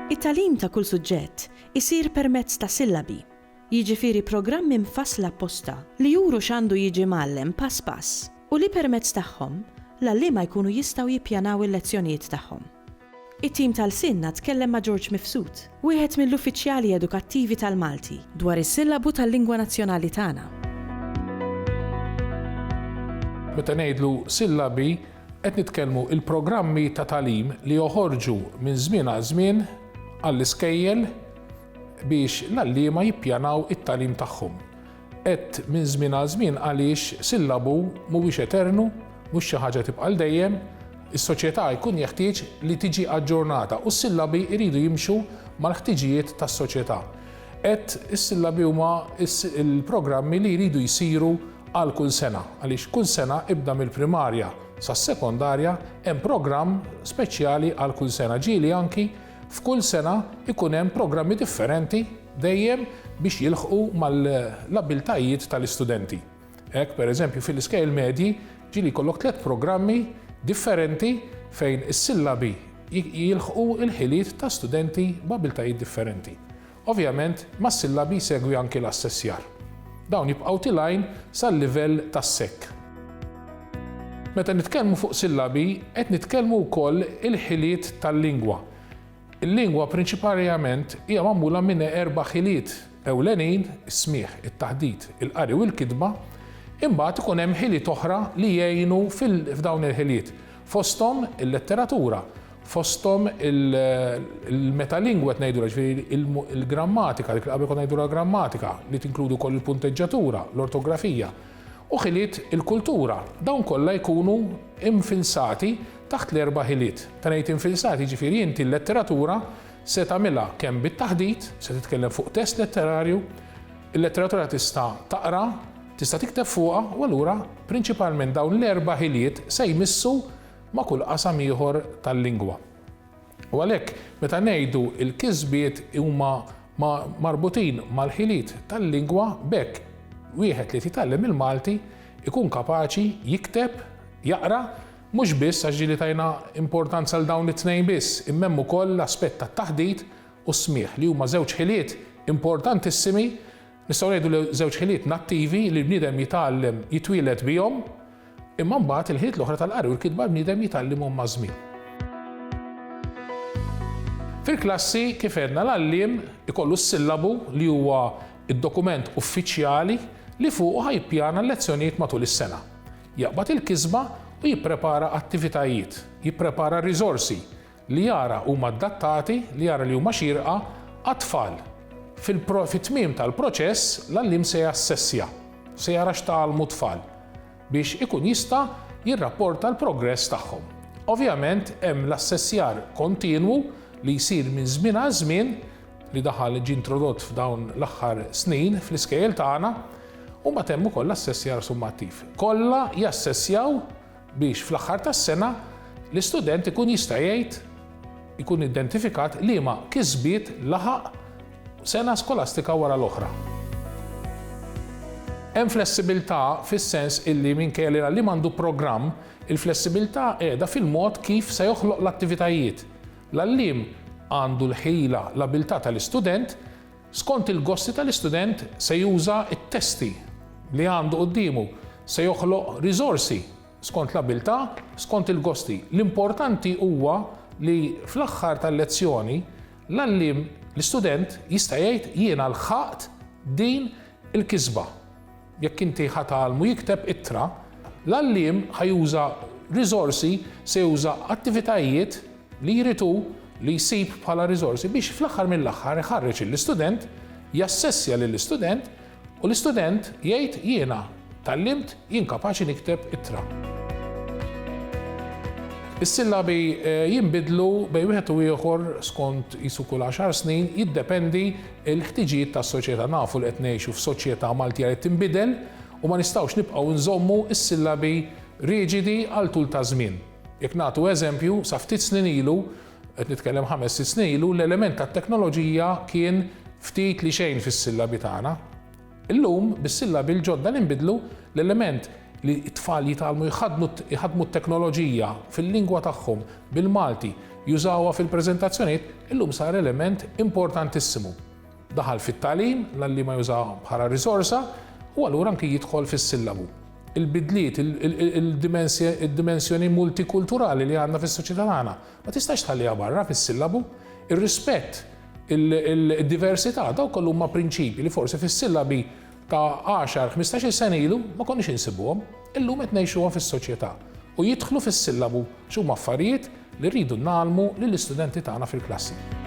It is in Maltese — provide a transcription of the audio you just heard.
It-tagħlim ta' kull suġġett isir permezz ta' sillabi, jiġifieri programmi mfassla apposta li juru x'għandu jiġi mgħallem pass pass u li permezz tagħhom l-għalliema jkunu jistgħu jippjanaw il-lezzjonijiet tagħhom. It-tim ta' Lsienna tkellem ma' George Mifsud, wieħed mill-uffiċjali edukattivi tal-Malti, dwar is-sillabu tal-lingwa nazzjonali tagħna. Meta ngħidlu sillabi, qed nitkellmu il-programmi ta' tagħlim li joħorġu minn żmien għal żmien għall-iskejjel biex l-għalliema jippjanaw it-tagħlim tagħhom. Għedt minn żmien għal żmien għaliex sillabu mhuwiex eternu, mhux xi ħaġa tibqa' għal dejjem. Is-soċjetà jkun jeħtieġ li tiġi aġġornata u s-sillabi jridu jimxu mal-ħtiġijiet tas-soċjetà. Għedt is-sillabi huma l-programmi li jridu jsiru għal kull sena għaliex kull sena ibda mill-primarja sas-sekondarja hemm programm speċjali għal kull sena ġieli anki F'kull sena jkun hemm programmi differenti dejjem biex jilħqu mal-abbiltajiet tal-istudenti. Hekk, pereżempju, fil-iskejjel medji ġieli jkollok tliet programmi differenti fejn is-sillabi jilħqu l-ħiliet ta' studenti b'abbiltajiet differenti. Ovvjament, mas-sillabi jsegwi anki l-assessjar. Dawn jibqgħu tilgħin sal-livell tas-sekk. Meta nitkellmu fuq sillabi, qed nitkellmu wkoll il-ħiliet tal-lingwa. Il-lingwa prinċiparjament hija magħmula minn erba' ħiliet ewlenin, is-smigħ, it-taħdit, il-qari u l-kitba, imbagħad ikun hemm ħiliet oħra li jgħinu f'dawn il-ħiliet. Fosthom il-letteratura, fosthom il-metalingwa qed ngħidulha, ġifieri il-grammatika, dik li qabel konna ngħidulha grammatika, li tinkludi wkoll il-punteġġatura, l-ortografija, u ħiliet il-kultura. Dawn kollha jkunu infilsati taħt l-erba' ħiliet. Meta ngħid infilsati, ġifieri inti l-letteratura se tagħmilha kemm bit-taħdit, se titkellem fuq test letterarju, il-letteratura tista' taqra, Tista' tikteb fuqha u allura prinċipalment dawn l-erba' ħiliet se jmissu ma' kull qasam ieħor tal-lingwa. U għalhekk meta ngħidu l-kisbiet huma marbutin mal-ħiliet tal-lingwa b'hekk wieħed li qed jitgħallem il-Malti jkun kapaċi jikteb, jaqra, mhux biss għax ġieli tajna importanza 'l dawn it-tnejn biss imma hemm ukoll l-aspett tat-taħdit u s-smigħ li huma żewġ ħiliet importantissimi Nistgħu ngħidu li żewġ ħiliet nattivi li l-bniedem jitgħallem jitwieled bihom, imma mbagħad il-ħiliet l-oħra tal-qari u l-kitba l-bniedem jitgħallimhom maż-żmien. Fil-klassi, kif għedna, l-għalliem ikollu s-sillabu li huwa d-dokument uffiċjali li fuqu ħa jippjana l-lezzjonijiet matul is-sena. Jaqbad il-kisba u jipprepara attivitajiet, jipprepara r-riżorsi, li jara huma adattati, li jara li huma xierqa, għat-tfal. Fit-tmiem tal-proċess, l-għalliem se jassessja, se jara x'tgħallmu t-tfal, biex ikun jista' jirrapporta l-progress tagħhom. Ovvjament hemm l-assessjar kontinwu li jsir minn żmien għal żmien, li daħal ġie introdott f'dawn l-aħħar snin fl-iskejjel tagħna, u mbagħad hemm ukoll l-assessjar summattiv. Kollha jassessjaw biex fl-aħħar tas-sena l-istudent ikun jista' jgħid ikun identifikat liema kisbiet laħaq sena skolastika wara l-oħra. Hemm flessibilità fis-sens illi minkejja li l-għalliem għandu programm, il-flessibilità qiegħda fil-mod kif se joħloq l-attivitajiet. L-għalliem għandu l-ħila, l-abiltà tal-istudent, Skont il-gossi tal-istudent se juża t-testi li għandu quddiemu, se joħloq riżorsi skont l-abiltà, skont il-gossi. L-importanti huwa li fl-aħħar tal-lezzjoni l-għalliem, l-istudent jista' jgħid jiena lħaqt din il-kisba. Jekk inti ħa tgħallmu jikteb ittra, l-għalliem ħa juża riżorsi, se juża attivitajiet li jrid hu li jsib bħala riżorsi biex fl-aħħar mill-aħħar iħarreġ lill-istudent, jassessja lill-istudent u l-istudent jgħid jiena tgħallimt, jien kapaċi nikteb ittra. Is-sillabi jinbidlu bejn wieħed u ieħor skont qisu kull għaxar snin, jiddependi Il-ħtiġijiet tas-soċjetà Nafu li qed ngħixu f'soċjetà Maltija li tinbidel u ma nistgħux nibqgħu nżommu s-sillabi riġidi għal tul ta' żmien. Jekk nagħtu eżempju, sa ftit snin ilu, qed nitkellem ħames sitt snin ilu, l-element tat-teknoloġija kien ftit li xejn fis-sillabi tagħna. Illum, bis-sillabi l-ġodda li nbidlu, l-element li t-tfal jitgħallmu jħaddnu jħaddmu t-teknoloġija fil-lingwa tagħhom, bil-Malti, jużawha fil-preżentazzjonijiet, illum sar element importantissimu. Daħal fit-tagħlim, l-għalliema jużawha bħala riżorsa, u allura anki jidħol fis-sillabu. Il-bidliet, il-dimensjoni multikulturali li għandna fis-soċjetà tagħna, ma tistax tħalliha barra fis-sillabu. Ir-rispett Il-diversità, dawk kollu huma prinċipji li forsi fis-sillabi ta' 10, 15-il sena ilu ma konniex insibuhom, illum qed ngħixuhom fis-soċjetà u jidħlu fis-sillabu għax huma affarijiet li rridu ngħallmu lill-istudenti tagħna fil-klassi.